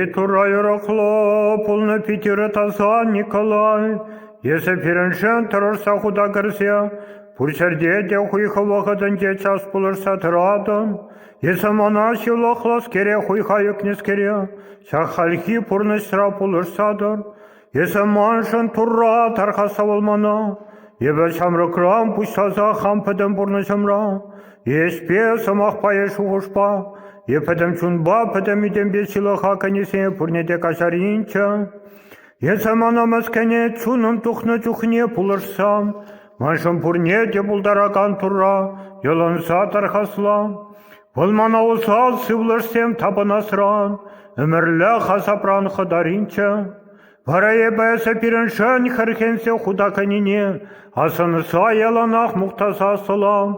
Итура юрӑхлӑ пулнӑ Питӗрӗ таса Николай. Эсӗ пирӗншӗн тӑрӑшса хута кӗрсе пур ҫӗрте те хуйхӑ вӑхӑтӗнче час пулӑшса тӑратӑн. Эсӗ мана ҫылӑхлӑскере хуйха ӳкнӗскере ҫак хальхи пурнӑҫра пулӑшса тӑр. Эсӗ маншӑн Турра тархаса вӑл мана. Эпӗ ҫамрӑкран пуҫласа хам пӗтӗм пурнӑҫӑмра эспе, сӑмахпа е шухӑшпа, е пӗтӗм чунпа, пӗтӗм ӳтемпе ҫылӑха кӗнисене пурне те каҫаринччӗ. Эсӗ мана мӗскӗне чунӑм тухнӑ чухне пулӑшсан, маншӑн пурне те пултаракан Турра йӑлӑнса тархасла. Вӑл мана усал сывлӑшсем тапӑнасран, ӗмӗрлӗх асапран хӑтаринччӗ. Вара эпӗ эсӗ пирӗншӗн хӗрхенсе хута кӗнине асӑнса яланах мухтаса сӑлам,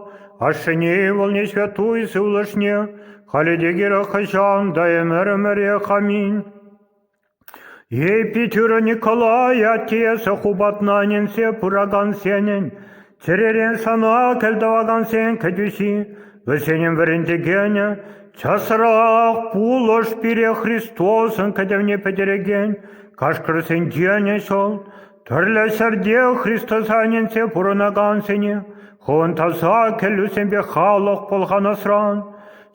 ашшӗне ывӑлне ҫветтуй сывлӑшне, халӗ те кирек хӑҫан та ӗмӗр-ӗмӗрех аминь. Епитюра Николай атте хупатнаненсе пыракансенӗн, чӗререн сана кӗлтӑвакансен кӗтӳҫи, вӗсенӗн вӗрентекенӗ, часрах пулӑш пире Христосӑн кӗтӗвне пӗтерекен кашкӑрсенченӗ ҫӑл, тӗрлӗ ҫӗрте Христоса ӗненсе пурӑнакансене, хӑвӑн таса кӗллӳсемпе халӑх пӑлханасран,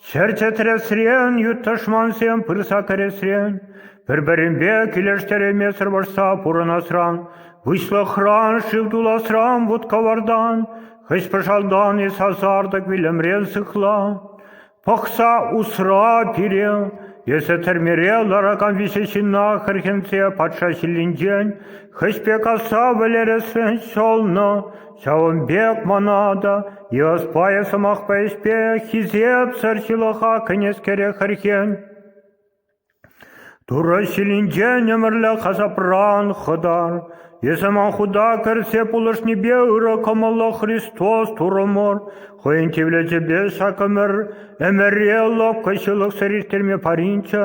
Ҫӗр чӗтресрен ют тӑшмансем пырса кӗресрен, пӗр-пӗринпе килӗштереймесӗр вӑрҫса пурӑнасран, выҫлӑхран, шыв туласран, вут-кӑвартан, хӑҫпӑшалтан-и сасартӑк вилӗмрен сыхла. Пӑхса усра пире, эсӗ тӗрмере ларакан виҫӗ ҫынна хӗрхенсе патша ҫиллинчен хӑҫ пек асра вӗлересрен ҫӑлнӑ, Ҫавӑн пек мана та йӑс пайӗ сӑмахпа ӗҫпе хисепсӗр ҫылӑха кӗнӗскере хӗрхен. Турӑ ҫилӗнчен ӗмӗрлӗх асапран хӑтар. Эсӗ ман худа кӗрсе пулӑшнипе ырӑ кӑмӑллӑ Христос Турӑ мор хӑйӗн тивлечӗпе ҫак ӗмӗр ӗмӗре лӑпкӑ ҫылӑхсӑр ирттерме паринччӗ.